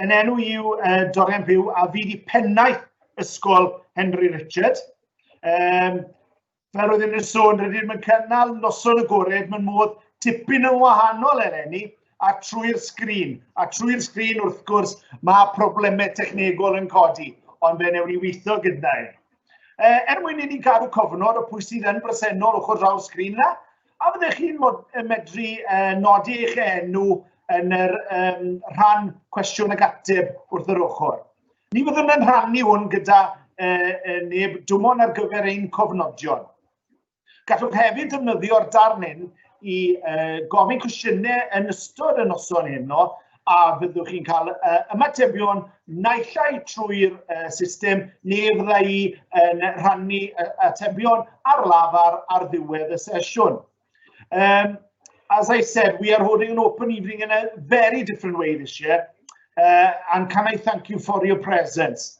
Yn enw yw uh, Dorian Byw a fi di pennaeth Ysgol Henry Richard. Um, fel roedd yn sôn, rydym yn cynnal noson agored mewn modd tipyn yn wahanol eleni a trwy'r sgrin. A trwy'r sgrin, wrth gwrs, mae problemau technegol yn codi, ond fe newn ni weithio gyda'i. E, er mwyn i ni gadw cofnod o pwy sydd yn bresennol ochr draw'r sgrin yna, A fyddech chi'n medru uh, nodi eich enw yn yr um, rhan cwestiwn ag ateb wrth yr ochr. Ni fyddwn yn rhannu hwn gyda uh, neb dwmon ar gyfer ein cofnodion. Gallwch hefyd ddefnyddio'r darn hyn i uh, gofyn cwestiynau yn ystod y noson heno a fyddwch chi'n cael uh, ymatebion naillai trwy'r uh, system neu fydda i yn rhannu uh, atebion ar lafar ar ddiwedd y sesiwn. Um, as I said, we are holding an open evening in a very different way this year, uh, and can I thank you for your presence?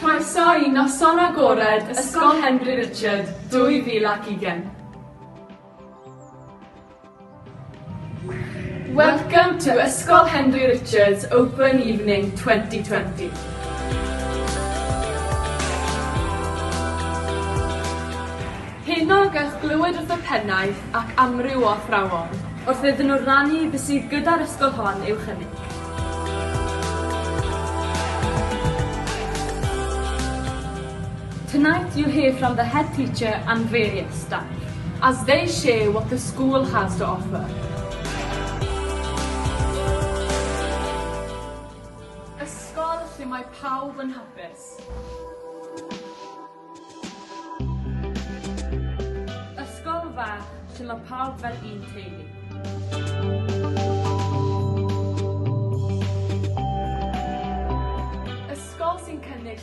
Croeso i Noson Agored Ysgol Henry Richard 2020! Welcome to Ysgol Henry Richards Open Evening 2020. Heno gewch glywed wrth y pennaeth ac amryw o athrawon wrth iddyn nhw rannu be sydd gyda'r ysgol hon i'w chynnig. Tonight you'll hear from the head teacher and various staff as they share what the school has to offer. Ysgol lle mae pawb yn hapus. Ysgol fach lle mae pawb fel un teulu. Ysgol sy'n cynnig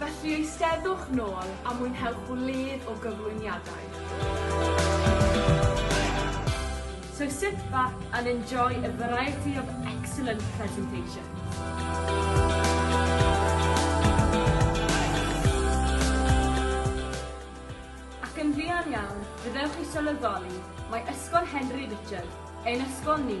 Felly eisteddwch nôl a mwynhewch wledd o gyflwyniadau. So sit back and enjoy a variety of excellent presentations. Ac yn fuan iawn fe ddewch i sylweddoli mai Ysgol Henry Richard ein ysgol ni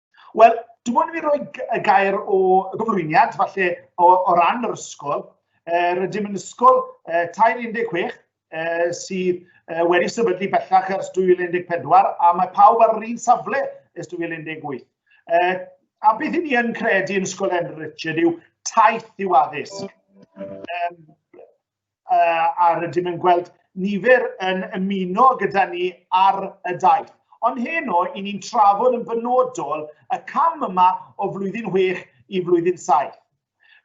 Wel, dwi'n mwyn i fi roi y gair o gyflwyniad, falle o, o ran yr ysgol. E, rydym yn ysgol e, 16 e, sydd e, wedi sefydlu bellach ers 2014 a mae pawb ar yr un safle ers 2018. E, a beth i ni yn credu yn Ysgol Henry Richard yw taith yw addysg. E, uh, a rydym yn gweld nifer yn ymuno gyda ni ar y daith. Ond heno, i ni'n trafod yn benodol y cam yma o flwyddyn 6 i flwyddyn 7.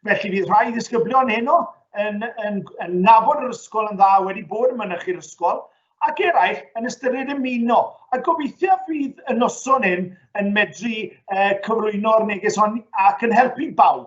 Felly fydd rhai ddisgyblion heno yn, yn, yn nabod yr ysgol yn dda wedi bod yn mynych i'r ysgol, ac eraill yn ystyried ymuno. A gobeithio fydd y noson hyn yn medru uh, cyflwyno'r neges hon ac yn helpu bawb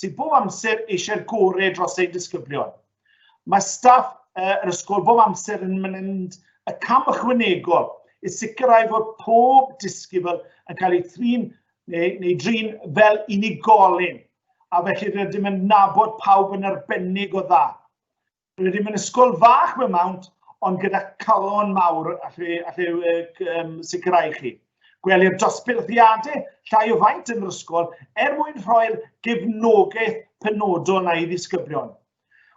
sydd bob amser eisiau'r gorau dros ein disgyblion. Mae staff yr ysgol bob amser yn mynd y cam ychwanegol i sicrhau fod pob disgybl yn cael ei thrin neu, neu drin fel unigolyn, a felly rydym yn nabod pawb yn arbennig o dda. Rydym yn ysgol fach mewn mawnt, ond gyda calon mawr allai, allai um, sicrhau chi. Gwelir dosbilthiadau llai o faint yn yr ysgol er mwyn rhoi'r gefnogaeth penodol na i ddisgyblion.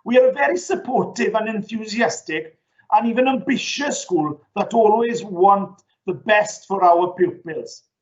We are a very supportive and enthusiastic and even ambitious school that always want the best for our pupils.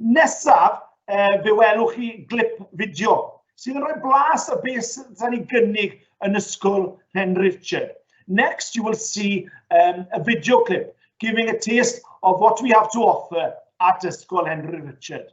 Nesaf, uh, fe welwch chi glip fideo sydd yn rhoi blas o beth sy'n cael ei gynnig yn ysgol Hen Richard. Next, you will see um, a video clip giving a taste of what we have to offer at Ysgol Henry Richard.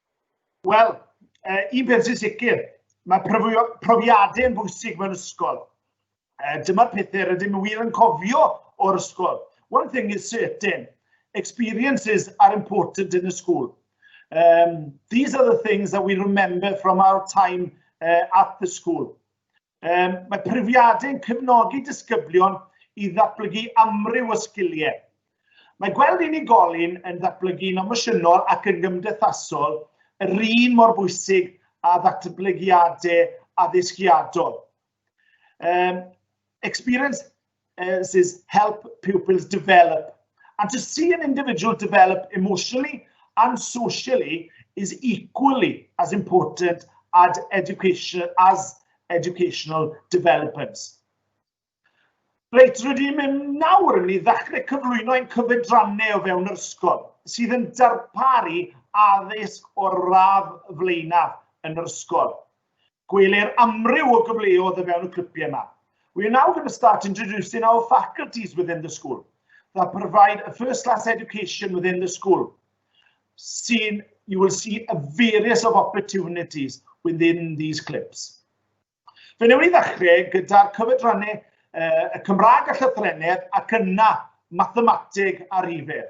Wel, uh, un peth sy'n sicr, mae profiadau yn bwysig mewn ysgol. Uh, Dyma'r pethau rydym yn wir yn cofio o'r ysgol. One thing is certain, experiences are important in the school. Um, these are the things that we remember from our time uh, at the school. Um, mae profiadau yn cefnogi disgyblion i ddatblygu amryw o sgiliau. Mae gweld unigolyn yn ddatblygu'n emosiynol ac yn gymdeithasol yr un mor bwysig a ddatblygiadau addysgiadol. Um, experience This is help pupils develop. And to see an individual develop emotionally and socially is equally as important as, education, as educational developments. Reit, rydym yn nawr yn mynd i ddechrau cyflwyno ein cyfedrannau o fewn yr ysgol, sydd yn darparu addysg o'r radd flaenaf yn yr ysgol. Gweler amryw o gyfleodd o fewn y clipiau yma. We are now going to start introducing our faculties within the school that provide a first class education within the school. Seen, you will see a various of opportunities within these clips. Fe newn ni ddechrau gyda'r cyfedrannau uh, y Cymraeg a Llythrennedd ac yna mathemateg a rhifedd.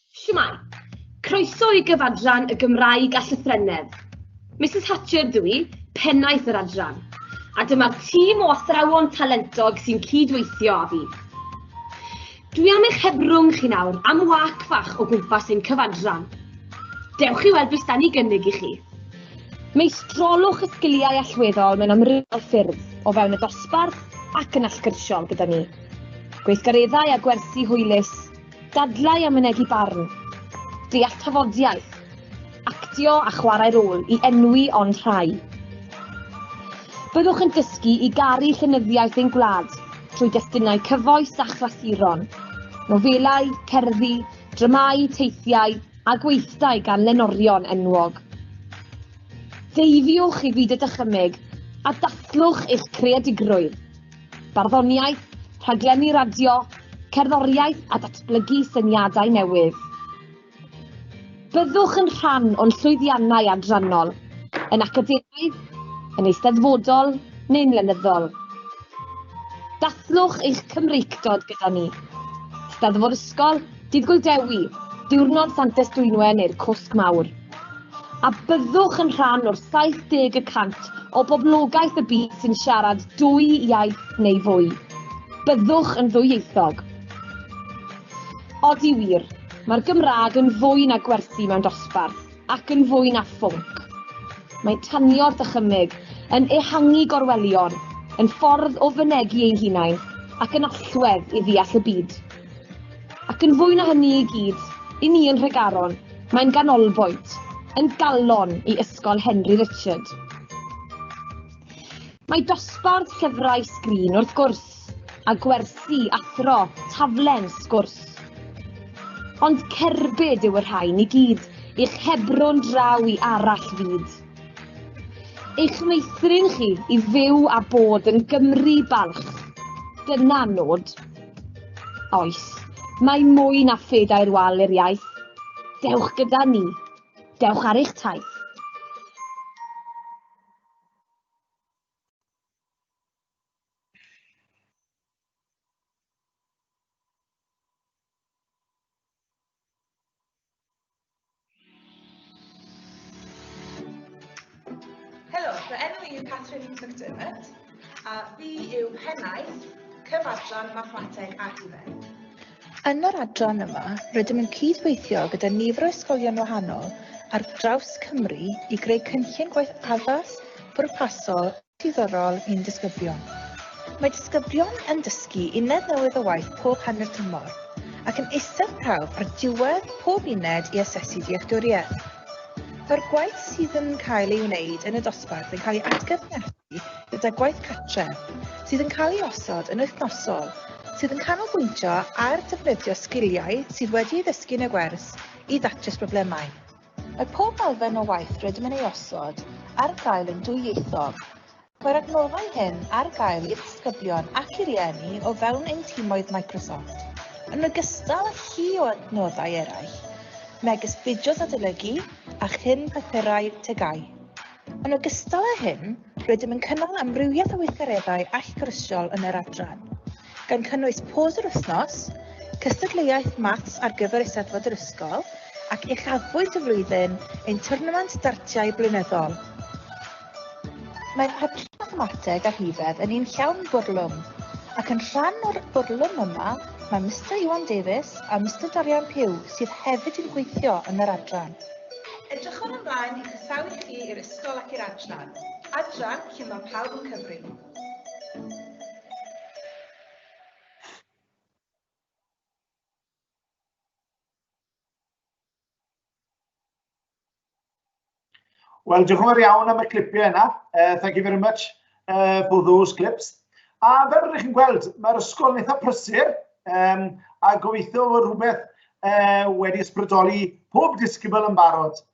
Shwmae! Croeso i gyfadran y Gymraeg a Llythrennedd. Misus Hatcher ydw i, pennaeth yr adran, a dyma'r tîm o athrawon talentog sy'n cyd-weithio â fi. Dwi am eich hebrwng chi nawr am wac fach o gwmpas ein cyfadran. Dewch i weld beth dan ni gynnig i chi. Meistrolwch y sgiliau allweddol mewn amrywiol ffyrdd, o fewn y dosbarth ac yn allgyrsiol gyda ni. Gweithgareddau a gwersi hwylus, Dadlau a mynegi barn. Deall tafodiaith. Actio a chwarae rôl i enwi ond rhai. Byddwch yn dysgu i garu llenyddiaeth ein gwlad trwy destunau cyfoes a chlasuron, nofelau, cerddi, dramâu, teithiau a gweithdai gan lenorion enwog. Deifiwch i fyd y dychymyg a dathlwch eich creadigrwydd. barddoniaeth, rhaglenni radio, cerddoriaeth a datblygu syniadau newydd. Byddwch yn rhan o'n llwyddiannau adrannol, yn academaidd, yn eisteddfodol neu'n lenyddol. Dathlwch eich Cymreictod gyda ni. Steddfod ysgol, Dydd Gŵyl Dewi, Diwrnod Santes Dwynwen neu'r Cwsg Mawr. A byddwch yn rhan o'r 70 y cant o boblogaeth y byd sy'n siarad dwy iaith neu fwy. Byddwch yn ddwyieithog. Odi wir, mae'r Gymraeg yn fwy na gwersi mewn dosbarth, ac yn fwy na phwnc. Mae tanio'r dychymyg yn ehangu gorwelion, yn ffordd o fynegi ein hunain, ac yn allwedd i ddeall y byd. Ac yn fwy na hynny i gyd, i ni yn Nhregaron, mae'n ganolbwynt, yn galon i Ysgol Henry Richard. Mae dosbarth llyfrau sgrin wrth gwrs, a gwersi, athro, taflen, sgwrs. Ond cerbyd yw y rhain i gyd i'ch hebrw'n draw i arall fyd. Eich meithrin chi i fyw a bod yn Gymru balch. Dyna nod. Oes, mae mwy na phedair wal i'r iaith. Dewch gyda ni. Dewch ar eich taith. Helo, fy enw i yw Catherine McDermott a fi yw pennaeth cyfartlan mathemateg a hufen. Yn yr adran yma, rydym yn cydweithio gyda nifer o ysgolion wahanol ar draws Cymru i greu cynllun gwaith addas, pwrpasol diddorol i'n disgyblion. Mae disgyblion yn dysgu uned newydd o waith pob hanner tymor, ac yn eistedd prawf ar diwedd pob uned i asesu dealltwriaeth. Mae'r gwaith sydd yn cael ei wneud yn y dosbarth yn cael ei atgyfnerthu gyda gwaith cartref, sydd yn cael ei osod yn wythnosol, sydd yn canolbwyntio ar ddefnyddio sgiliau sydd wedi ei ddysgu yn y gwers i ddatrys problemau. Mae pob elfen o waith rydym yn ei osod ar gael yn dwyieithog. Mae'r adnoddau hyn ar gael i'r disgyblion ac i rieni o fewn ein timoedd Microsoft, yn ogystal â llu o adnoddau eraill, megis fideos adolygu a chyn papurau TGAU. Yn ogystal â hyn, rydym yn cynnal amrywiaeth o weithgareddau allgyrsiol yn yr adran. gan cynnwys pôs yr wythnos, cystadleuaeth maths ar gyfer Eisteddfod yr ysgol ac uchafbwynt y flwyddyn ein twrnament dartiau blynyddol. Mae Hyblyg Mathemateg a Rhifedd yn un llawn bwrlwm, ac yn rhan o'r bwrlwm yma mae Mister Iwan Davies a Mister Dorian Pugh sydd hefyd yn gweithio yn yr adran. Edrychwn ymlaen i chroesawu chi i'r ysgol ac i'r adran, adran lle mae pawb yn cyfri. Wel, diolch yn fawr iawn am y clipiau yna. Uh, thank you very much uh, for those clips. A fel rydych chi'n gweld, mae'r ysgol yn eitha prysur, um, a gobeithio fod rhywbeth uh, wedi ysbrydoli pob disgybl yn barod.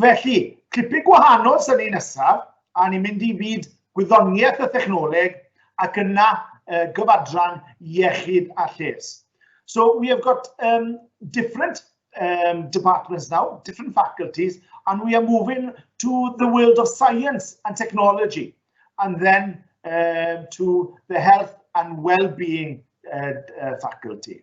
Felly, clipyn gwahanol sy'n ei nesaf, a ni'n mynd i fyd gwyddoniaeth a thechnoleg ac yna uh, gyfadran iechyd a lles. So we have got um, different um, departments now, different faculties, and we are moving to the world of science and technology, and then uh, to the health and well-being uh, uh, faculty.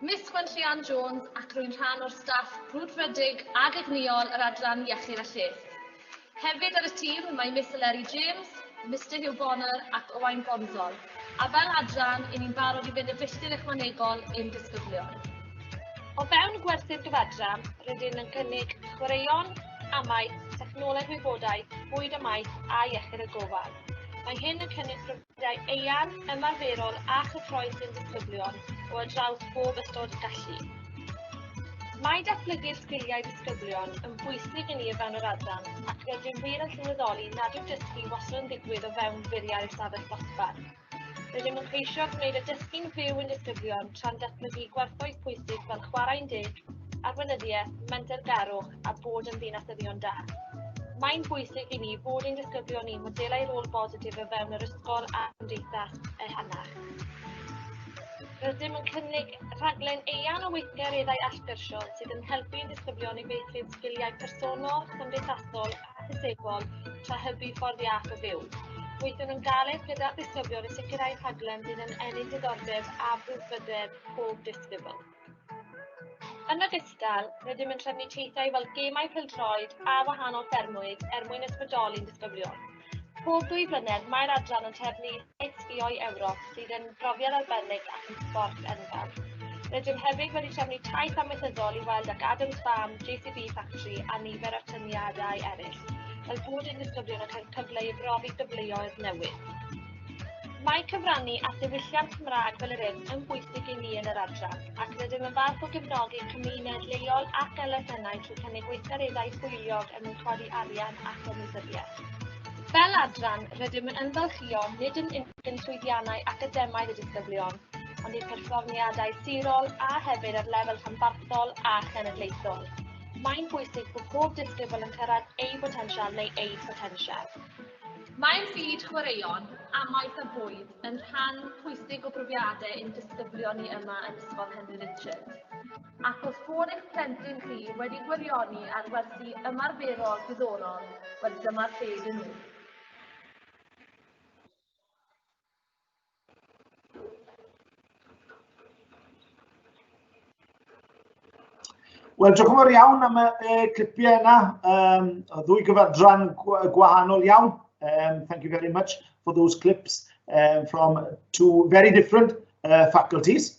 Miss Gwen Llian Jones ac rwy'n rhan o'r staff brwdfrydig ag egnïol yr Adran Iechyd a Lles. Hefyd ar y tîm mae Miss Eleri James, Mister Hugh Bonner ac Owain Bonzol, a fel adran, i ni'n barod i fynd y filltir ychwanegol i'n disgyblion. O fewn gwerthu'r gyfadran, rydyn yn cynnig chwaraeon, amau, technoleg wybodaeth, bwyd a maeth a iechyd a gofal. Mae hyn yn cynnwys profiadau eang, ymarferol a chyffroes sy'n disgyblion o ar draws bob ystod gallu. Mae datblygu'r sgiliau disgyblion yn bwysig i ni o fewn yr adran ac rydym wir yn sylweddoli nad yw dysgu wastad yn digwydd o fewn bwriad ystafell ddosbarth. Rydym yn ceisio gwneud y dysgu'n fyw i'n disgyblion tra'n datblygu gwerthoedd pwysig fel chwarae'n deg, arweinyddiaeth, mentergarwch a bod yn ddinasyddion da. Mae'n bwysig i ni fod ein disgyblion ni modelau rôl bositif o fewn yr ysgol a chymdeithas ehangach. Rydym yn cynnig rhaglen eang o weithgareddau allgyrsiol sydd yn helpu ein disgyblion i feithrin sgiliau personol, cymdeithasol accessibl tra hybu ffordd iach o fyw. Gweithiwn yn galed gyda disgyblion i sicrhau rhaglen sydd yn ennill diddordeb a brwdfrydedd pob disgybl. Yn ogystal, rydym yn trefnu teithiau fel gemau pildroed a wahanol ffermwyd er mwyn ysbrydoli'n disgyblion. Pob dwy flynedd, mae'r adran yn trefnu Sgïo'i Ewrop sydd yn brofiad arbennig ac yn sbort enfawr. Rydym hefyd wedi trefnu taith amaethyddol i weld ac Adams Farm, JCB Factory a nifer o tyniadau eraill, fel bod ein disgyblion yn cael cyfle i brofi gyfleoedd newydd. Mae cyfrannu at ddiwylliant Cymraeg fel yr hyn yn bwysig i ni yn yr adran, ac rydym yn falch o gefnogi cymuned leol ac elusennau trwy cynnig weithgareddau hwyliog er mwyn codi arian ac ymwybyddiaeth. Fel adran, rydym yn ymfalchïo nid yn unig yn llwyddiannau academaidd y disgyblion, ond eu perfformiadau sirol a hefyd ar lefel rhanbarthol a chenedlaethol. Mae'n bwysig bod pob disgybl yn cyrraedd eu potensial neu eu potensial. Mae byd chwaraeon, amaeth a bwyd yn rhan pwysig o brofiadau ein disgyblion ni yma yn Ysgol Henry Richard. Ac os bod eich plentyn chi wedi gwirioni ar wersi ymarferol diddorol, wel dyma'r lle iddyn nhw. Wel, diolch yn fawr iawn am y, y clipiau yna. Um, ddwy gyfadran gwahanol iawn. Um, thank you very much for those clips um, from two very different uh, faculties.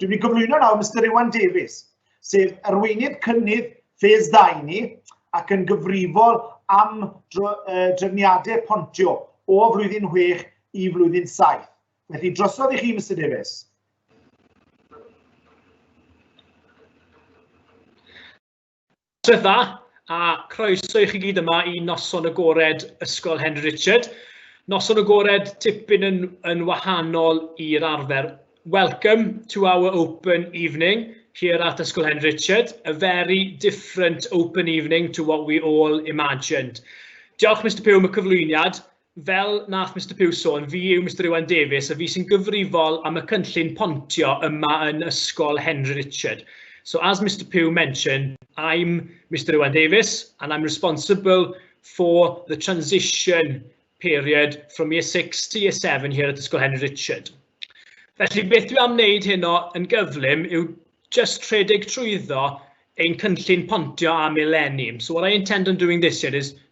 Dwi'n mynd i gyflwyno nawr Mr Iwan Davies, sef arweinydd cynnydd ffes ddau ni ac yn gyfrifol am drefniadau pontio o flwyddyn 6 i flwyddyn 7. Felly drosodd i chi, Mr Davies. Tryth dda, a croeso i chi gyd yma i noson agored Ysgol Henry Richard. Noson agored tipyn yn, yn wahanol i'r arfer. Welcome to our open evening here at Ysgol Henry Richard, a very different open evening to what we all imagined. Diolch Mr Pugh am y cyflwyniad. Fel nath Mister Pugh sôn, fi yw Mister Iwan Davies a fi sy'n gyfrifol am y cynllun pontio yma yn Ysgol Henry Richard. So as Mister Pugh mentioned, I'm Mister Iwan Davies and I'm responsible for the transition period from year 6 to year 7 here at Ysgol Henry Richard. Felly beth dwi am wneud heno yn gyflym yw just rhedeg trwyddo ein cynllun pontio am eleni. So what I intend on doing this year is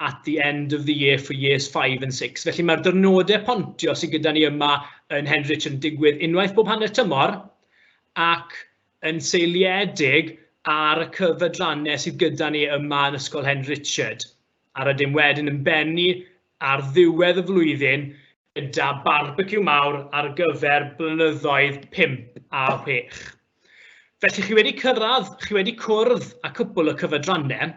at the end of the year for years 5 and 6. Felly mae'r dyrnodau pontio sydd gyda ni yma yn Henrich yn digwydd unwaith bob hanner tymor ac yn seiliedig ar y cyfedrannau sydd gyda ni yma yn Ysgol Hen Richard. A rydym wedyn yn bennu ar ddiwedd y flwyddyn gyda barbeciw mawr ar gyfer blynyddoedd 5 a 6. Felly chi wedi cyrraedd, chi wedi cwrdd a cwpl y cyfedrannau,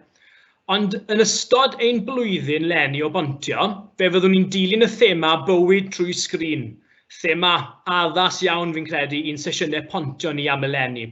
ond yn ystod ein blwyddyn lenni o bontio, fe fyddwn ni'n dilyn y thema bywyd trwy sgrin, thema addas iawn fi'n credu i'n sesiynau pontio ni am eleni.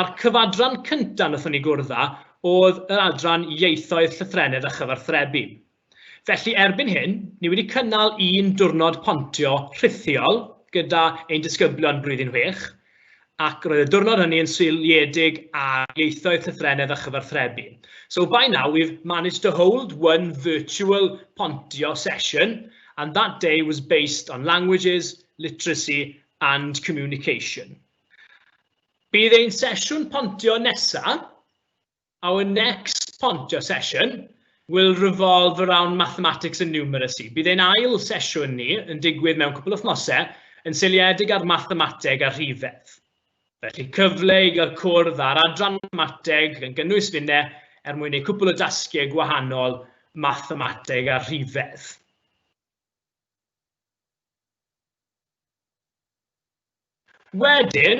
A'r cyfadran cynta' nathon ni gwrdd â o'dd yr adran Ieithoedd, Llythrennedd a Chyfarthrebu. Felly erbyn hyn, ni wedi cynnal un dwrnod pontio rhithiol gyda ein disgyblion Blwyddyn Chwech, ac roedd y dwrnod hynny yn seiliedig ar Ieithoedd, Llythrennedd a Chyfarthrebu. So by now we've managed to hold one virtual pontio session and that day was based on languages, literacy and communication. Bydd ein sesiwn pontio nesaf, our next pontio session, will revolve around mathematics and numeracy. Bydd ein ail sesiwn ni yn digwydd mewn cwpl o wythnosau yn seiliedig ar mathemateg a rhifedd. Felly cyfle i gael cwrdd ar adran mathemateg yn gynnwys finne er mwyn ei cwpl o dasgiau gwahanol mathemateg a rhifedd. Wedyn,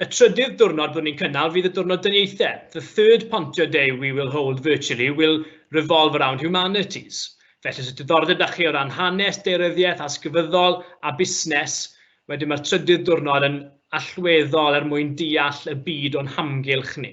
y trydydd diwrnod bod ni'n cynnal fydd y diwrnod dyniaethau, the third Pontio Day we will hold virtually will revolve around humanities. Felly os oes diddordeb 'da chi o ran hanes, deiryddiaeth, allsgyfyddol a busnes, wedyn mae'r trydydd diwrnod yn allweddol er mwyn deall y byd o'n hamgylch ni.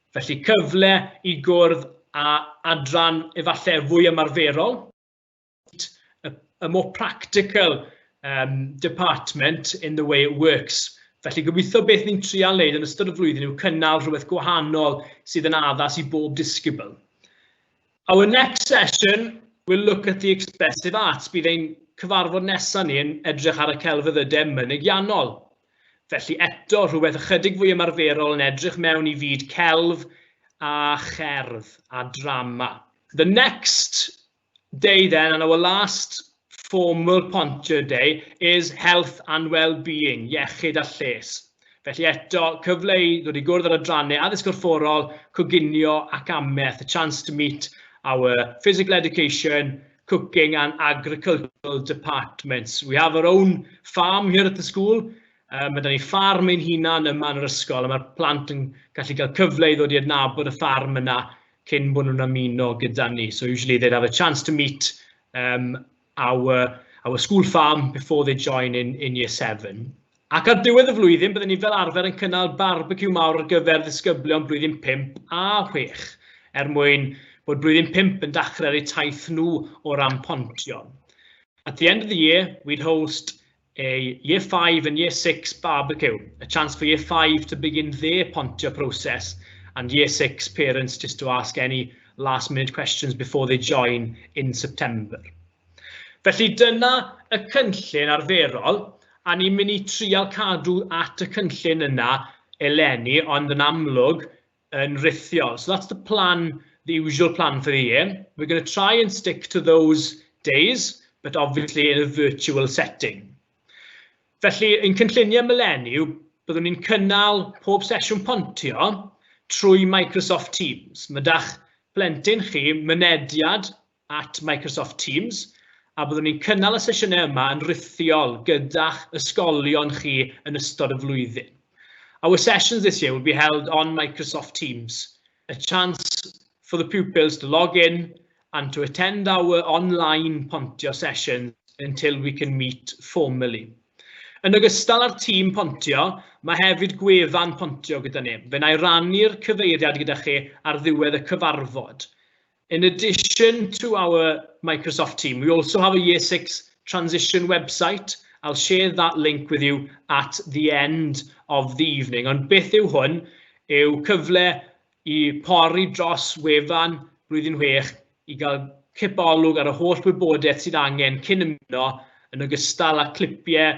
Felly cyfle i gwrdd â adran efallai fwy ymarferol, a more practical um, department in the way it works. Felly gobeithio beth ni'n trial wneud yn ystod y flwyddyn yw cynnal rhywbeth gwahanol sydd yn addas i bob disgybl. Our next session will look at the expressive arts. Bydd ein cyfarfod nesaf ni yn edrych ar y celfyddydau mynygiannol. Felly eto, rhywbeth ychydig fwy ymarferol yn edrych mewn i fyd celf a cherdd a drama. The next day then, and our last formal pontio day, is health and well-being, iechyd a lles. Felly eto, cyfle i ddod i gwrdd ar adrannau addysg corfforol, coginio ac ameth, a chance to meet our physical education, cooking and agricultural departments. We have our own farm here at the school. Um, mae da ni ffarm ein hunan yma yn yr ysgol, a mae'r plant yn gallu cael cyfle i ddod i adnabod y ffarm yna cyn bod nhw'n ymuno gyda ni. So usually they'd have a chance to meet um, our, our school farm before they join in, in year seven. Ac ar ddiwedd y flwyddyn byddwn ni fel arfer yn cynnal barbeciw mawr ar gyfer ddisgyblion blwyddyn pump a chwech, er mwyn bod blwyddyn pump yn dachrau ar eu taith nhw o ran pontio. At the end of the year, we'd host a year five and year six barbecue, a chance for year five to begin their pontio process and year six parents just to ask any last minute questions before they join in September. Felly dyna y cynllun arferol a ni'n mynd i trial cadw at y cynllun yna eleni ond yn amlwg yn rithiol. So that's the plan, the usual plan for the year. We're going to try and stick to those days but obviously in a virtual setting. Felly, yn cynlluniau myleni, byddwn ni'n cynnal pob sesiwn pontio trwy Microsoft Teams. Mae da'ch plentyn chi mynediad at Microsoft Teams a byddwn ni'n cynnal y sesiynau yma yn rhithiol gyda'ch ysgolion chi yn ystod y flwyddyn. Our sessions this year will be held on Microsoft Teams, a chance for the pupils to log in and to attend our online pontio sessions until we can meet formally. Yn ogystal â'r tîm pontio, mae hefyd gwefan pontio gyda ni. Fe na i rannu'r cyfeiriad gyda chi ar ddiwedd y cyfarfod. In addition to our Microsoft team, we also have a Year 6 transition website. I'll share that link with you at the end of the evening. Ond beth yw hwn? Yw cyfle i pori dros wefan blwyddyn 6 i gael cip olwg ar y holl wybodaeth sydd angen cyn ymuno yn ogystal â clipiau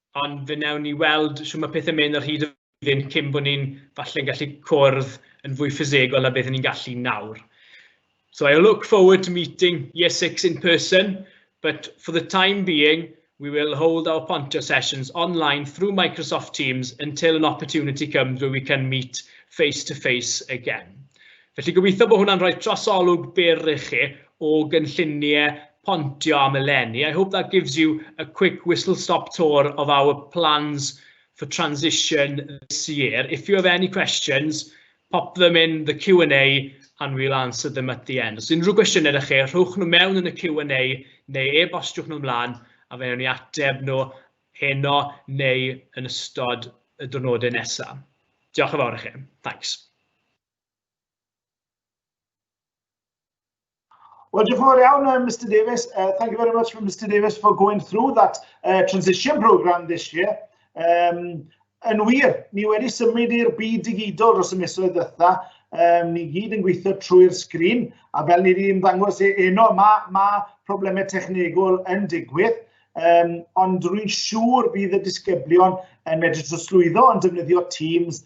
ond fe wnawn ni weld shwt mae pethau'n mynd ar hyd y flwyddyn cyn bod ni'n falle'n gallu cwrdd yn fwy ffisegol a beth ni'n gallu nawr. So I look forward to meeting Year 6 in person, but for the time being, we will hold our Pontio sessions online through Microsoft Teams until an opportunity comes where we can meet face to face again. Felly gobeithio bod hwnna'n rhoi trosolwg byr i chi o gynlluniau pontio am eleni. I hope that gives you a quick whistle stop tour of our plans for transition this year. If you have any questions, pop them in the Q&A and we'll answer them at the end. Os unrhyw gwestiynau ydych chi, rhowch nhw mewn yn y Q&A neu e-bostiwch nhw mlaen a fe wnawn ni ateb nhw heno neu yn ystod y diwrnodau nesaf. Diolch yn fawr i chi. Thanks. Well, diolch yn fawr iawn, uh, Mr Davies. Uh, thank you very much for Mr Davies for going through that uh, transition programme this year. Um, yn wir, ni wedi symud i'r byd digidol dros y misoedd ddytha. Um, ni gyd yn gweithio trwy'r sgrin, a fel ni wedi ymddangos e eno, mae ma problemau technegol yn digwydd. Um, ond rwy'n siŵr bydd y disgyblion yn medru trosglwyddo yn defnyddio Teams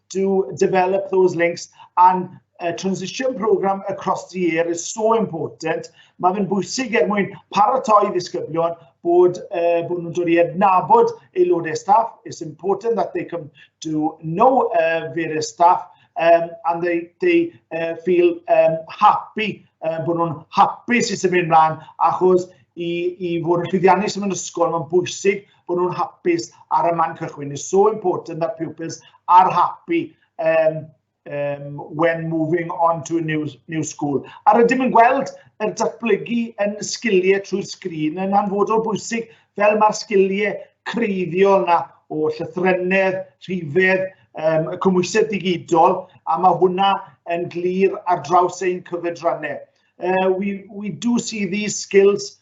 to develop those links and uh, transition program across the year is so important. Mae fe'n bwysig er mwyn paratoi ddisgyblion bod, uh, bod nhw'n dod i adnabod aelodau staff. It's important that they come to know uh, various staff um, and they, they uh, feel um, happy, uh, bod nhw'n hapus i symud ymlaen achos i, i fod yn llwyddiannus yn ysgol, mae'n bwysig bod nhw'n hapus ar y man cychwyn. It's so important that pupils are happy um, um, when moving on to a new, new school. A rydym yn gweld yr datblygu yn sgiliau trwy'r sgrin yn anfodol bwysig fel mae'r sgiliau creiddiol yna o llythrennedd, rhifedd, um, y cymwysedd digidol, a mae hwnna yn glir ar draws ein cyfedrannau. Uh, we, we do see these skills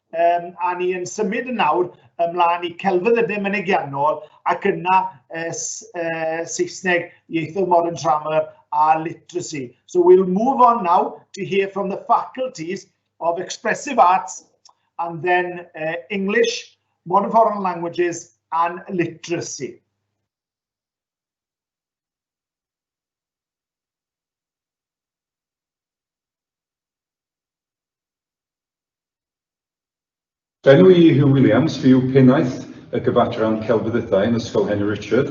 Um, a ni yn symud yn nawr ymlaen i celfyddydau mynegiannol ac yna uh, uh, Saesneg ieithoedd modern grammar a literacy. So we'll move on now to hear from the faculties of expressive arts and then uh, English, modern foreign languages and literacy. Enw i yw Huw Williams, fi yw Pennaeth y Gyfadran Celfyddydau yn Ysgol Henry Richard.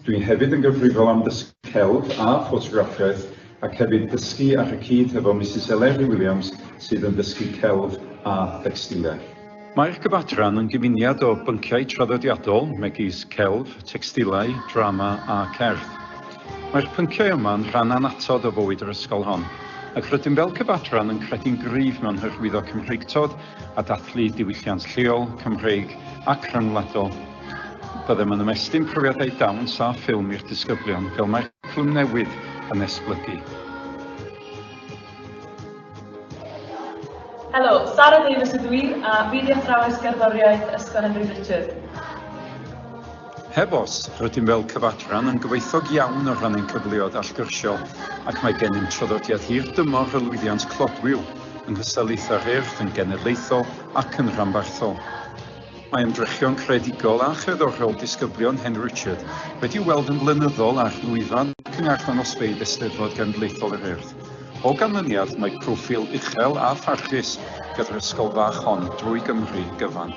Dw i hefyd yn gyfrifol am ddysgu celf a ffotograffiaeth ac hefyd dysgu ar y cyd hefo Misus Eleri Williams sydd yn dysgu celf a thecstiliaeth. Mae'r Gyfadran yn gyfuniad o bynciau traddodiadol megis celf, tecstilau, drama a cerdd. Mae'r pynciau yma yn rhan annatod o fywyd yr ysgol hon, ac rydym fel Cyfadran yn credu'n gryf mewn hyrwyddo Cymreictod a dathlu diwylliant lleol, Cymreig ac rhyngwladol. Byddem yn ymestyn profiadau dawns a ffilm i'r disgyblion, fel mae'r cwricwlwm newydd yn esblygu. Helo, Sara Davies ydw i, a fi di athrawes gerddoriaeth Ysgol Henry Richard. Heb os, rydym fel cyfadran yn gyfoethog iawn o ran ein cyfleoedd allgyrsiol ac mae gennym traddodiad hir dymor o lwyddiant clodwiw yng nghystadlaethau'r Urdd yn genedlaethol ac yn rhanbarthol. Mae ymdrechion creadigol a cherddorol disgyblion Hen Richard wedi'u weld yn flynyddol ar lwyfan cynharth anosfeydd Eisteddfod Genedlaethol yr Urdd. O ganlyniad, mae proffil uchel a pharchus gyda'r ysgol fach hon drwy Gymru gyfan.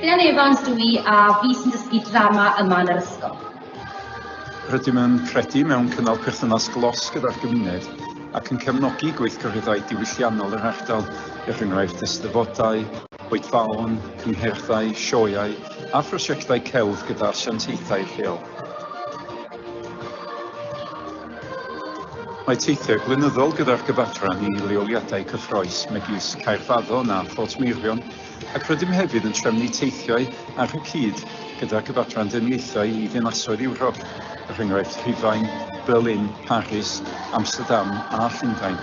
Rhian Evans dw i a fi sy'n dysgu drama yma yn yr ysgol. Rydym yn credu mewn cynnal perthynas glos gyda'r gymuned ac yn cefnogi gweithgareddau diwylliannol yr ardal, er enghraifft eisteddfodau, oedfaon, cyngerddau, sioeau a phrosiectau celf gyda asiantaethau lleol. Mae teithiau blynyddol gyda'r gyfadran i leoliadau cyffrous megis Caerfaddon a Phortmeirion Ac rydym hefyd yn trefnu teithiau ar y cyd gyda Cyfadran Deyrniaethau i ddinasoedd Ewrop, er enghraifft Rhufain, Berlin, Paris, Amsterdam a Llundain.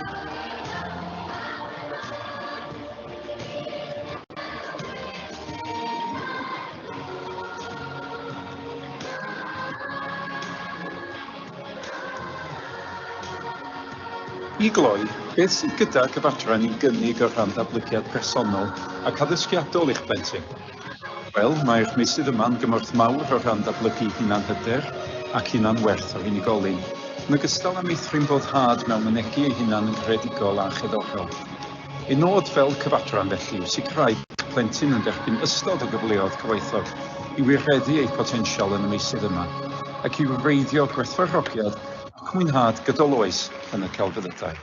I gloi, beth sydd gydag y fadran i'w gynnig o rhan datblygiad personol ac addysgiadol i'ch plentyn? Wel, mae'r meysydd yma yn gymorth mawr o rhan datblygu hunanhyder ac hunanwerth yr unigolyn, yn ogystal â meithrin boddhad mewn mynegi ei hunan yn greadigol a cheddorol. Y nod fel cyfadran felly yw sicrhau bod plentyn yn derbyn ystod o gyfleoedd cyfoethog i wireddu eu potensial yn y meysydd yma ac i wreiddio gwerthfawrogiad ac mwynhad gydol oes yn y celfyddydau.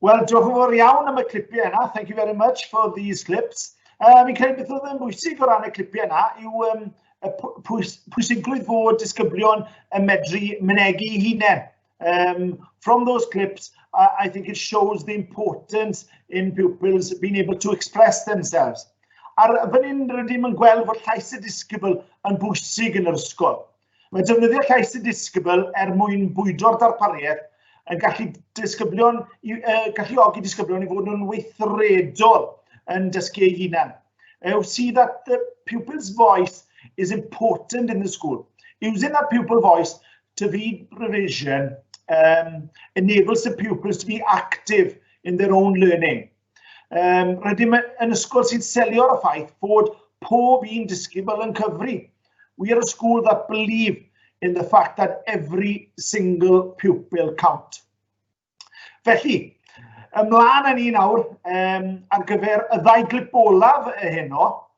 Wel, diolch yn fawr iawn am y clipiau yna. Thank you very much for these clips. Uh, fi'n credu beth oedd yn bwysig o ran y clipiau yna yw um, y pwys, pwysigrwydd fod disgyblion yn medru mynegu hunain. Um, from those clips, uh, I think it shows the importance in pupils being able to express themselves. Ar fan hyn, rydym yn gweld fod llais y disgybl yn bwysig yn yr ysgol. Mae defnyddio llais sy'n disgybl er mwyn bwydo'r darpariaeth yn gallu disgyblion, i, uh, galluogi disgyblion i fod nhw'n weithredol yn dysgu eu hunain. Uh, see that the pupil's voice is important in the school. Using that pupil voice to feed revision um, enables the pupils to be active in their own learning. Um, rydym yn ysgol sy'n selio ar y ffaith bod pob un disgybl yn cyfri. We are a school that believe in the fact that every single pupil count. Felly, ymlaen yn un awr um, ar gyfer y ddau glip olaf heno,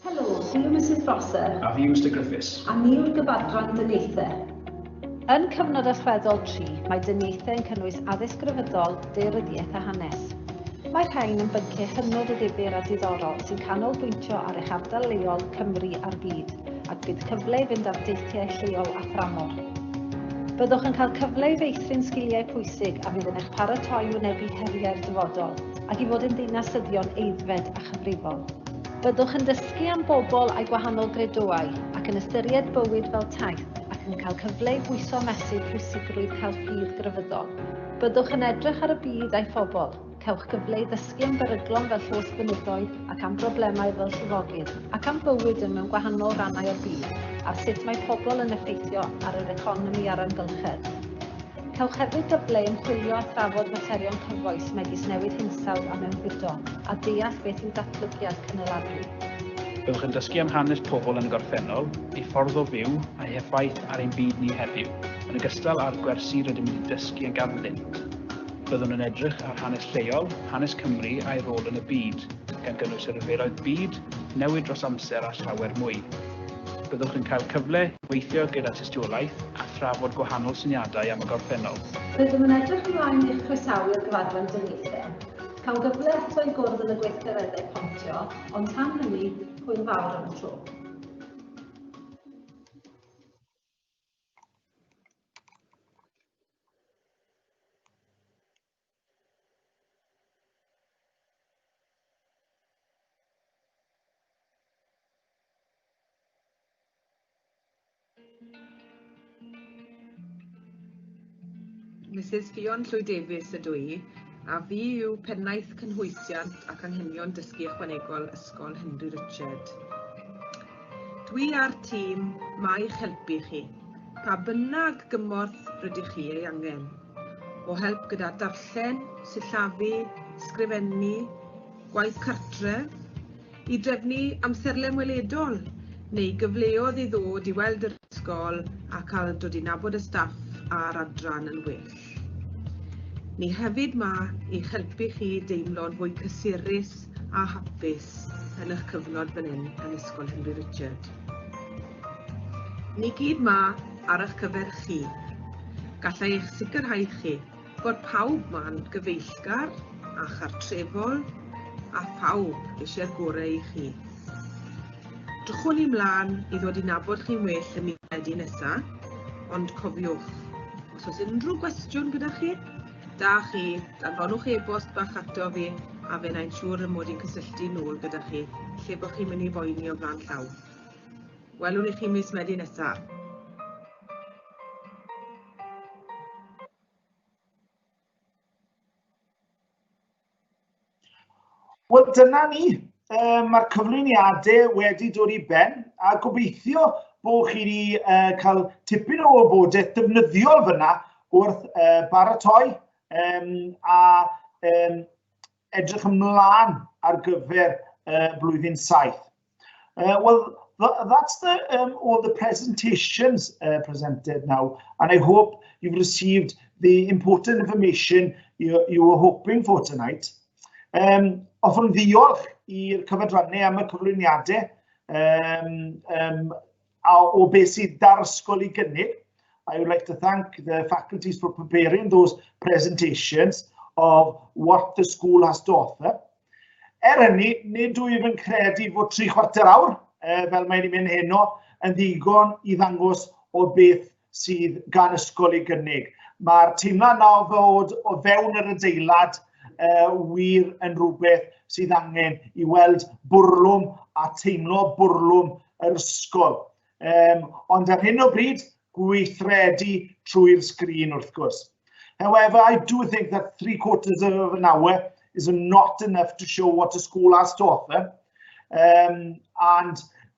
Helo, fi yw Misus Prosser. A fi yw Mister Griffiths. A ni yw'r gyfadran dyniaethau. Yn cyfnod allweddol tri, mae dyniaethau yn cynnwys addysg grefyddol, daearyddiaeth a hanes. Mae'r rhain yn bynciau hynod o ddifyr a diddorol sy'n canolbwyntio ar eich ardal leol, Cymru a'r byd. ac bydd cyfle i fynd ar deithiau lleol a thramor. Byddwch yn cael cyfle i feithrin sgiliau pwysig a fydd yn eich paratoi i wynebu heriau'r dyfodol ac i fod yn ddinasyddion aeddfed a chyfrifol. Byddwch yn dysgu am bobl a'u gwahanol gredoau ac yn ystyried bywyd fel taith ac yn cael cyfle i bwyso a mesur pwysigrwydd cael ffydd grefyddol. Byddwch yn edrych ar y byd a'i phobl, Cewch gyfle i ddysgu am beryglon fel llos gwynidoedd ac am broblemau fel llifogydd, ac am bywyd yn mewn gwahanol rannau o'r byd, ar sut mae pobl yn effeithio ar yr economi a'r amgylchedd. Cewch hefyd gyfle i ymchwilio a thrafod materion cyfoes megis newid hinsawdd a mewnfudo, a deall beth yw datblygiad cynaladwy. Byddwch yn dysgu am hanes pobl yn y gorffennol, eu ffordd o fyw, a'u heffaith ar ein byd ni heddiw, yn ogystal â'r gwersi rydym wedi dysgu a ganddyn. Byddwn yn edrych ar hanes lleol, hanes Cymru a'i rôl yn y byd, gan gynnwys y rhyfeloedd byd, newid dros amser a llawer mwy. Byddwch yn cael cyfle i weithio gyda tystiolaeth a thrafod gwahanol syniadau am y gorffennol. Rydym yn edrych ymlaen i'ch croesawu i'r gyfadran dinistref. Cawn gyfle eto i gwrdd yn y gweithgareddau pontio, ond tan hynny, hwyl fawr am y tro. Misus Ffion Llwyd Davies ydw i, a fi yw Pennaeth Cynhwysiant ac Anghenion Dysgu Ychwanegol Ysgol Henry Richard. Dwi a'r tîm 'ma i'ch helpu chi, pa bynnag gymorth rydych chi ei angen, o help gyda darllen, sillafu, sgrifennu, gwaith cartref, i drefnu amserlen weledol, neu gyfleodd i ddod i weld yr ysgol a cael dod i nabod y staff a'r adran yn well. Ni hefyd ma i'ch helpu chi deimlo'n fwy cysurus a hapus yn eich cyfnod fan hyn yn Ysgol Henry Richard. Ni gyd ma ar eich cyfer chi. Gallai eich sicrhau chi bod pawb ma'n gyfeillgar a chartrefol a phawb eisiau'r gorau i chi. Drychwn i mlaen i ddod i nabod chi'n well y Medi nesa, ond cofiwch, os oes unrhyw gwestiwn gyda chi, da chi, danfonwch e-bost bach ato fi a fe nain siŵr y mod i'n cysylltu nôl gyda chi lle bod chi'n mynd i boeni o flan llaw. Welwn i chi mis Medi nesaf. Wel, dyna ni. Um, Mae'r cyflwyniadau wedi dod i ben a gobeithio bod chi wedi uh, cael tipyn o wybodaeth defnyddiol fyna wrth uh, baratoi um, a um, edrych ymlaen ar gyfer uh, blwyddyn saith. Uh, well, th that's the, um, all the presentations uh, presented now, and I hope you've received the important information you, you were hoping for tonight. Um, often ddiolch i'r cyfadrannau am y cyflwyniadau um, um, a o beth sydd dar ysgol i gynnig. I would like to thank the faculties for preparing those presentations of what the school has to offer. Er hynny, nid wyf yn credu fod tri chwarter awr, e, fel mae'n mynd heno, yn ddigon i ddangos o beth sydd gan ysgol ei gynnig. Mae'r teimlad na o fod o fewn yr adeilad uh, wir yn rhywbeth sydd angen i weld bwrlwm a teimlo bwrlwm yr ysgol. Um, ond ar hyn o bryd, gweithredu trwy'r sgrin wrth gwrs. However, I do think that three quarters of an hour is not enough to show what a school has to offer. Um, and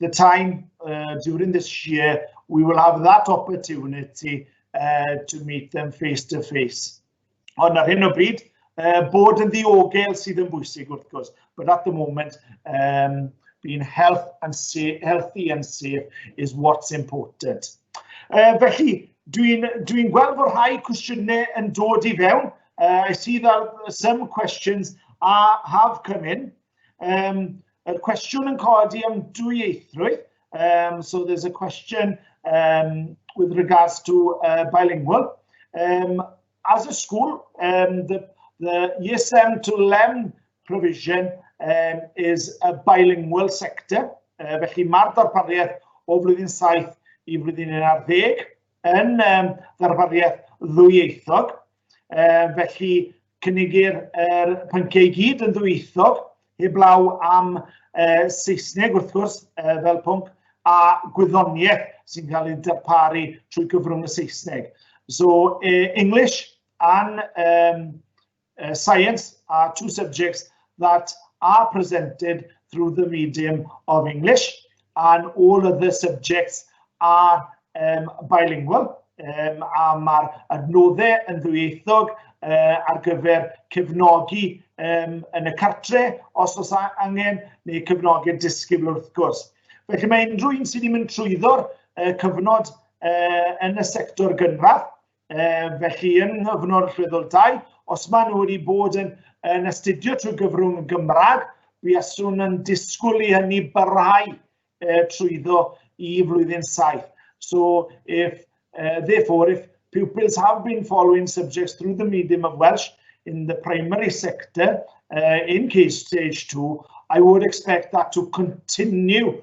the time uh, during this year, we will have that opportunity uh, to meet them face to face. Ond ar hyn o bryd, uh, bod yn ddiogel sydd yn bwysig wrth gwrs, but at the moment, um, being health and safe, healthy and safe is what's important. Uh, felly, dwi'n dwi gweld bod rhai cwestiynau yn dod i fewn. Uh, I see that some questions are, have come in. Um, y cwestiwn yn codi am dwyieithrwydd. Um, so there's a question um, with regards to uh, bilingual. Um, as a school, um, the, the ESM to LEM provision um, is a bilingual sector. Uh, felly mae'r darpariaeth o flwyddyn 7 i flwyddyn 11. yn um, ddarpariaeth ddwyieithog, um, felly cynigir er pynciau i gyd yn ddwyieithog, heblaw am uh, Saesneg wrth gwrs uh, fel pwnc, a gwyddoniaeth sy'n cael ei darparu trwy gyfrwng y Saesneg. So uh, English and um, uh, science are two subjects that are presented through the medium of English and all other subjects are um, bilingual um, a mae'r adnoddau yn ddwyieithog uh, ar gyfer cefnogi um, yn y cartre os oes angen neu cefnogi disgybl wrth gwrs. Felly mae unrhyw un sydd wedi mynd trwyddo'r uh, cyfnod uh, yn y sector gynradd e, felly yn nghyfnod rhyddol dau, os maen nhw wedi bod yn, yn astudio trwy gyfrwng y Gymraeg, buaswn yn disgwyl i hynny barhau e, trwyddo i flwyddyn saith. So if, uh, therefore, if pupils have been following subjects through the medium of Welsh in the primary sector uh, in case stage two, I would expect that to continue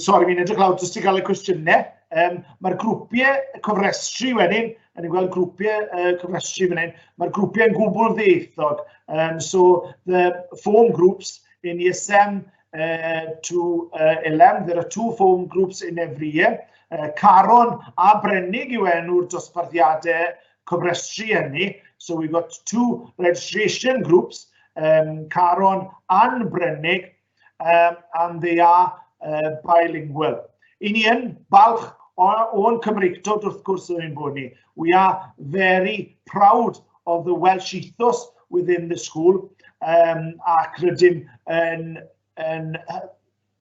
Sori, fi'n edrych lawr jyst i gael y cwestiynau. Um, Mae'r grwpiau cofrestru wedyn, yn ni'n gweld grwpiau uh, cofrestru fan hyn, mae'r grwpiau yn gwbl ddieithog. Um, so, the form groups in ESM uh, to uh, LM, there are two form groups in every year. Uh, Caron a Brennig yw enw'r dosbarthiadau cofrestru hynny. So we've got two registration groups, um, Caron and Brennig, um, and they are uh, bilingual. I ni yn balch o'n Cymreictod wrth gwrs yn ein bod ni. We are very proud of the Welsh ethos within the school um, ac rydym yn, yn,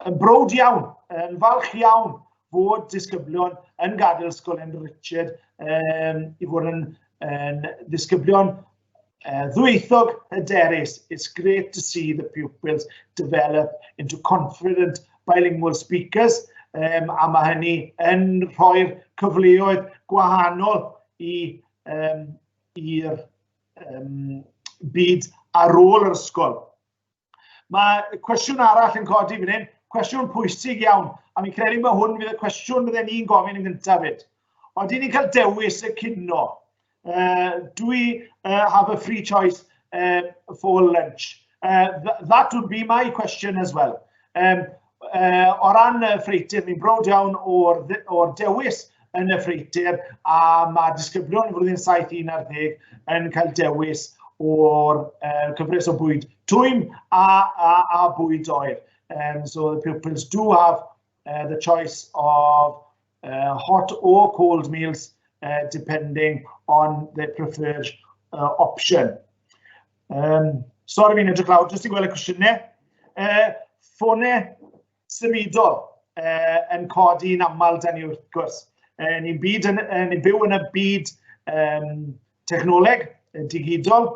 yn brod iawn, yn falch iawn fod disgyblion yn gadael ysgol yn Richard um, i fod yn, yn disgyblion Uh, ddwythog hyderus, it's great to see the pupils develop into confident bilingual speakers um, a mae hynny yn rhoi'r cyfleoedd gwahanol i um, i'r um, byd ar ôl yr ysgol. Mae cwestiwn arall yn codi fan hyn, cwestiwn pwysig iawn, a mi'n credu bod hwn fydd y cwestiwn bydden ni'n gofyn yn gyntaf fyd. Oedden ni'n cael dewis y cino. Uh, do we uh, have a free choice uh, for lunch? Uh, th that would be my question as well. Um, uh, o ran y ffreitur, ni'n brod iawn o'r, or dewis yn y ffreitur a mae disgyblion y flwyddyn 7-11 yn cael dewis o'r uh, cyfres o bwyd twym a, a, a bwyd oer. Um, so the pupils do have uh, the choice of uh, hot or cold meals, uh, depending on their preferred uh, option. Um, sorry fi'n edrych lawr, jyst i gweld y cwestiynau. Uh, ffone symudol uh, yn codi yn aml dan ni wrth gwrs. Uh, ni'n byd yn, uh, ni byw yn y byd um, technoleg, digidol,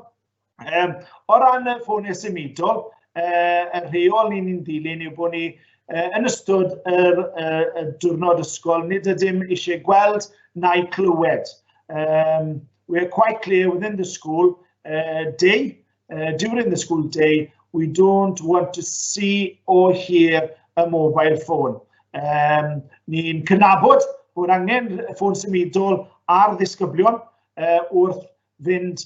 Um, o ran y ffoniau symudol, uh, y rheol ni'n ni'n ddilyn yw bod ni uh, yn ystod y, uh, y diwrnod ysgol, nid ydym eisiau gweld na'i clywed. Um, we're quite clear within the school uh, day, uh, during the school day, we don't want to see or hear a mobile phone. Um, ni'n cynabod bod angen ffôn symudol ar ddisgyblion uh, wrth fynd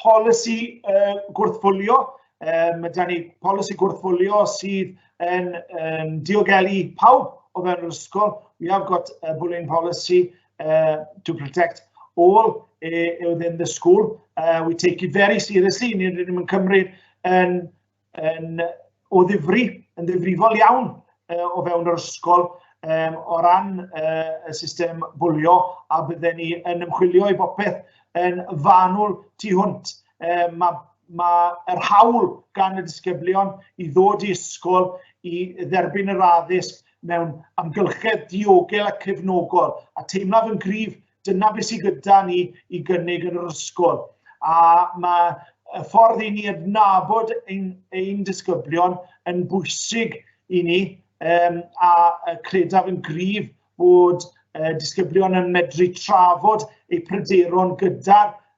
Polisi uh, gwrthfwlio, um, mae gen i polisi gwrthfwlio sydd yn um, diogelu pawb o fewn yr ysgol. We have got a bullying policy uh, to protect all uh, within the school. Uh, we take it very seriously, ni'n rydym yn cymryd yn yn o ddifri, yn ddifrifol iawn uh, o fewn yr ysgol um, o ran uh, y system bwlio a bydden ni yn ymchwilio i bopeth yn fanwl tu hwnt. Um, mae ma yr hawl gan y disgyblion i ddod i ysgol i dderbyn yr addysg mewn amgylchedd diogel a cefnogol a teimlaf yn gryf Dyna beth sydd gyda ni i gynnig yn yr ysgol. A mae y ffordd i ni adnabod ein, ein disgyblion yn bwysig i ni um, a credaf yn gryf bod uh, disgyblion yn medru trafod eu pryderon gyda'r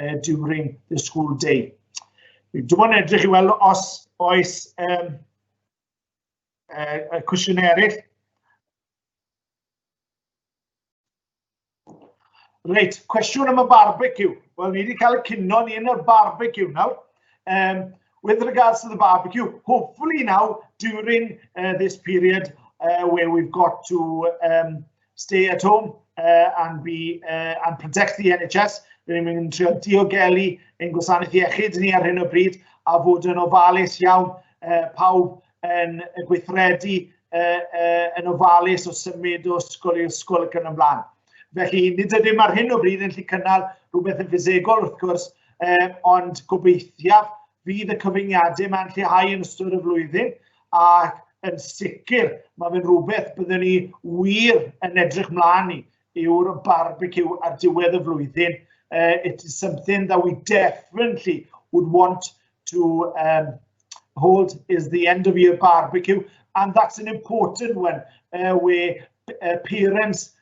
uh, during the school day. Dwi'n mwyn edrych i weld os oes um, uh, y cwestiynau eraill. Reit, cwestiwn am y barbecue. Wel, ni wedi cael y cynno ni yn y barbecue nawr. Um, with regards to the barbecue, hopefully now during uh, this period uh, where we've got to um, stay at home uh, and be uh, and protect the NHS. Rydyn ni'n mynd trio diogelu ein gwasanaeth iechyd ni ar hyn o bryd a fod yn ofalus iawn uh, pawb yn y gweithredu uh, uh, yn ofalus o symud o ysgol i ysgol ac yn ymlaen. Felly, nid ydym ar hyn o bryd yn lli cynnal rhywbeth yn ffisegol wrth gwrs, uh, ond gobeithiaf Fydd y cyfyngiadau yma'n lleihau yn ystod y flwyddyn ac yn sicr mae fe'n rhywbeth byddwn ni wir yn edrych mlaen i yw'r barbecue ar diwedd y flwyddyn. Uh, it is something that we definitely would want to um, hold is the end of year barbecue and that's an important one uh, where uh, parents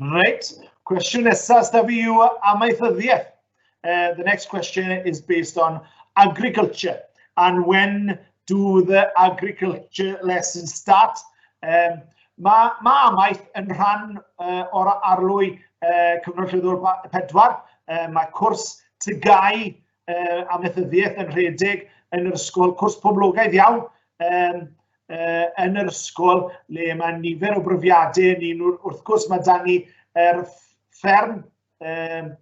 Reit, cwestiwn nesaf da fi yw amaethyddiaeth. Uh, the next question is based on agriculture and when do the agriculture lessons start? Um, mae ma amaeth yn rhan uh, o'r arlwy uh, Cyfnod Llwyddol 4. Uh, mae cwrs tygau uh, amaethyddiaeth yn rhedeg yn yr ysgol, cwrs poblogaidd iawn, um, uh, yn yr ysgol le mae nifer o bryfiadau yn un wrth gwrs mae dan ni er fferm um,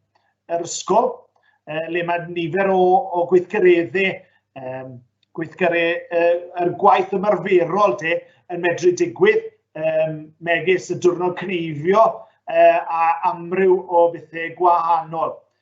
yr ysgol uh, le mae nifer o, o gweithgareddau um, gweithgarau uh, er gwaith ymarferol de yn medru digwydd um, megis y diwrnod cneifio uh, a amryw o bethau gwahanol.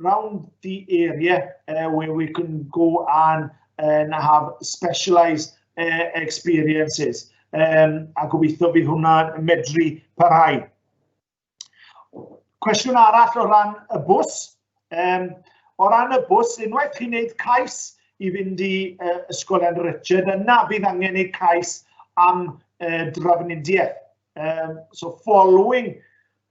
around the area uh, where we can go and and have specialised uh, experiences. Um, a gobeithio bydd hwnna'n medru parhau. Cwestiwn arall o ran y bws. Um, o ran y bws, unwaith chi'n gwneud cais i fynd i uh, Ysgolion Richard, yna bydd angen ei cais am uh, drafnidiaeth. Um, so following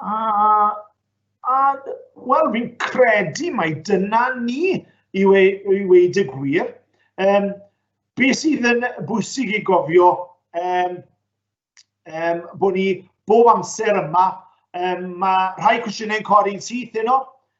A, a wel, fi'n credu mai dyna ni i, we, i weid y gwir. Um, be sydd yn bwysig i gofio um, um, bod ni bob amser yma, um, mae rhai cwestiynau'n codi'n syth yno,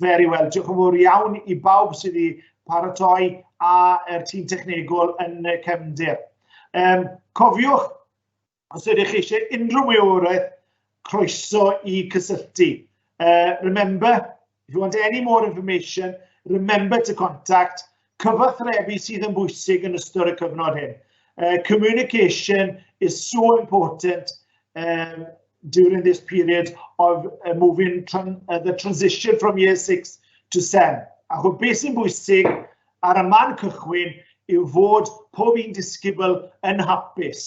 Very well. Diolch yn fawr iawn i bawb sydd wedi paratoi a er tîm technegol yn y cefndir. Um, cofiwch, os ydych chi eisiau unrhyw wyworaeth, croeso i cysylltu. Uh, remember, if you want any more information, remember to contact Cyfathrebu sydd yn bwysig yn ystod y cyfnod hyn. Uh, communication is so important um, during this period of uh, moving tran uh, the transition from year 6 to 7. A chw beth sy'n bwysig ar y man cychwyn yw fod pob un disgybl yn hapus